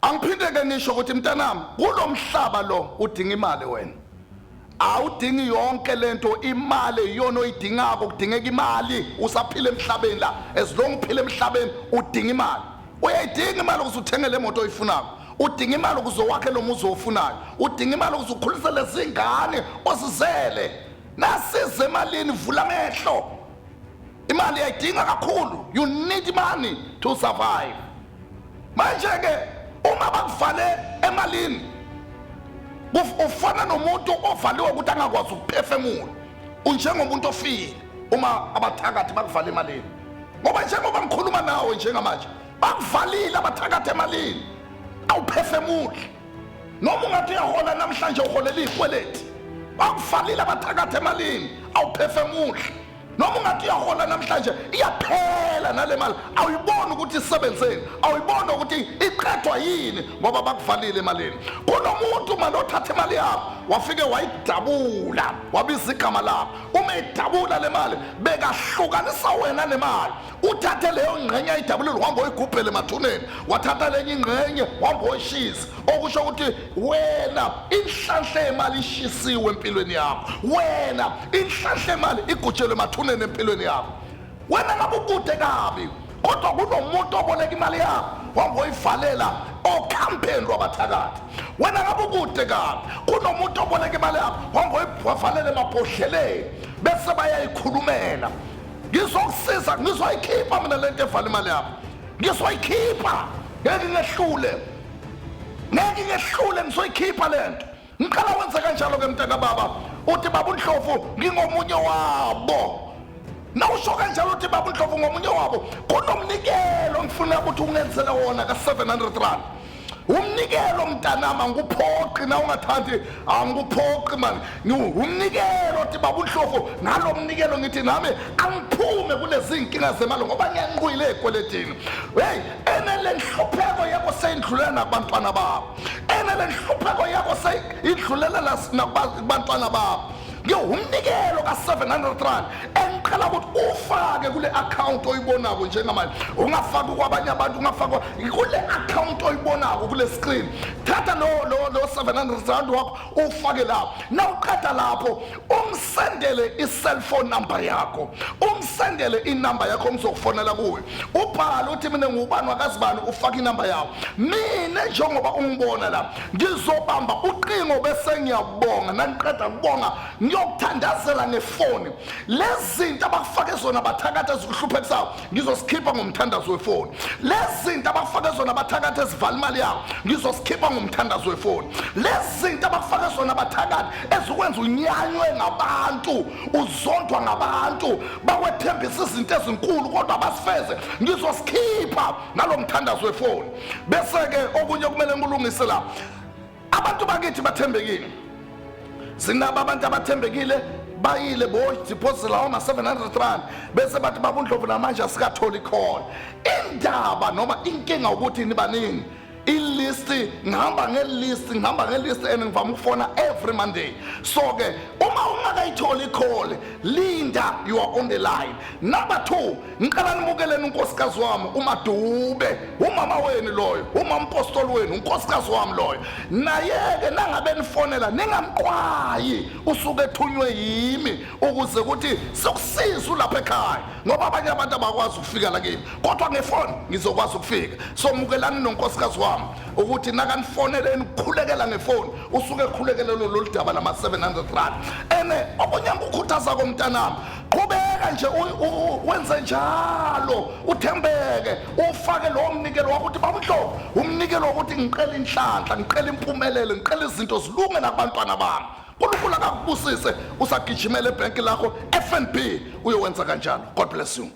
Angiphinde ke ngisho ukuthi mntanami kulo mhlaba lo udinga imali wena. Awudingi yonke lento imali iyona oyidingako kudingeka imali usaphila emhlabeni la as long uphila emhlabeni udinga imali. Uyayidinga imali ukuze uthenge le moto oyifunako. Udinga imali ukuze wakhe lo muzi ofunayo. Udinga imali ukuze ukhulise lezingane osizele. Nasize emalini vula amehlo. Imali yayidinga kakhulu. You need money to survive. Manje-ke uma bakuvale emalini ufana nomuntu ovaliwe ukuthi angakwazi ukuphefemula unjengomuntu ofile uma abathakathi bakuvale emalini ngoba njengoba ngikhuluma nawe njengamanje bakuvalile abathakathi emalini awuphefemuli noma ungathi uyahola namhlanje uholela iy'kweleti bakuvalile abathakathi emalini awuphefemuli noma ungathi uyahola namhlanje iyaphela nale mali awuyiboni ukuthi isebenzeni awuyiboni ukuthi iqedwa yini ngoba bakuvalile emalini kunomuntu mali othatha imali yakho wafike wayidabula wabiza igama lakho uma idabula le mali bekahlukanisa wena nemali uthathe leyo ngqenye ayidabulile uhamba oyigubhele emathuneni wathatha lenye ingqenye wahamba oyishisa okusho ukuthi wena inhlanhla yemali ishisiwe empilweni yakho wena inhlanhla yemali igutshelwe emathuneni empilweni yakho wena ngabe ukude kabi kodwa kunomuntu oboleka imali yakho wangoyivalela okhampeni lwabathakathi wena ngabe ukude kabi kunomuntu oboleka imali yakho wangoyivalela emabhodleleni bese bayayikhulumela ngizokusiza ngizoyikhipha mina lento evala imali yakho ngizoyikhipha ngeke ngehlule ngeke ngehlule ngisoyikhipha lento ngiqala wenza kanjalo ke mntaka baba uthi baba uNdlovu ngingomunye wabo nawusho kanjalo uthi baba uNdlovu ngomunye wabo kunomnikelo ngifuna ukuthi ungenzele wona ka 700 rand umnikelo mntanami angikuphoqi na ungathandi angikuphoqi mani umnikelo ti baba unhloko ngalo mnikelo ngithi nami angiphume kunezinkinga zemali ngoba ngiyanqwile ekweletini heyi enelenhlupheko yabo seyindlulela nakubantwana babo enelenhlupheko yabo seyidlulela nakubantwana babo ngewumnikelo ka-700 rand engiqala ukuthi ufake kule akhawunti oyibonako njengamanje ungafaki kwabanye abantu ungafaki kule akhawunti oyibonako kule screen thatha lo 700 rand wakho ufake lapho nawuqeda lapho umsendele i-cellphone number yakho umsendele inamba yakho umzokufonela kuyo ubhale uthi mina ngubani wakazibani ufake inamba yakho mina njengoba ungibona la ngizobamba uqingo bese ngiyabonga nangiqeda kubonga ngiyokuthandazela ngefoni lezi zinto abakufake zona bathakatha zikuhluphe kusawo ngizosikhipha ngomthandazo wefoni lezi zinto abakufake zona abathakathi ezivala imali yabo ngizosikhipha ngomthandazo wefoni lezi zinto abakufake zona abathakathi ezikwenza unyanywe ngabantu uzondwa ngabantu bakwethembisa izinto ezinkulu kodwa basifeze ngizosikhipha nalo mthandazo wefoni bese-ke okunye kumele ngikulungise la abantu bakithi bathembekile sinabo abantu abathembekile bayile boziphosela oma 700 rand bese bathi babundlovu namanje asikatholi khona indaba noma inkinga ukuthi nibaningi ilist ngihamba ngelist ngihamba ngelist and ngivama ukufona every monday so ke uma ungakayitholi ikhole linda you are on the line number 2 Ngicela nimukeleni unkosikazi wami uMadube, umama wenu loyo, umampostoli wenu, unkosikazi wami loyo. Naye-ke nangabe nifonela ningamqwayi usuke ethunywe yimi ukuze ukuthi sokusiza ulapha ekhaya ngoba abanye abantu abakwazi ukufika la kimi kodwa ngefoni ngizokwazi ukufika so mukelani nonkosikazi wami ukuthi nakanifoneleni ukukhulekela ngefoni usuke ekhulekele lolu daba lama-700 rand ene okunye ngikukhuthaza komntanami qhubeka nje wenze njalo uthembeke ufake lowo mnikelo wakuthi bamhlobo umnikelo wokuthi ngiqela inhlanhla ngiqela impumelelo ngiqela izinto zilunge nakubantwana bami unkulunkulu akakubusise usagijimela ebhenki lakho fnb uyowenza kanjalo god bless you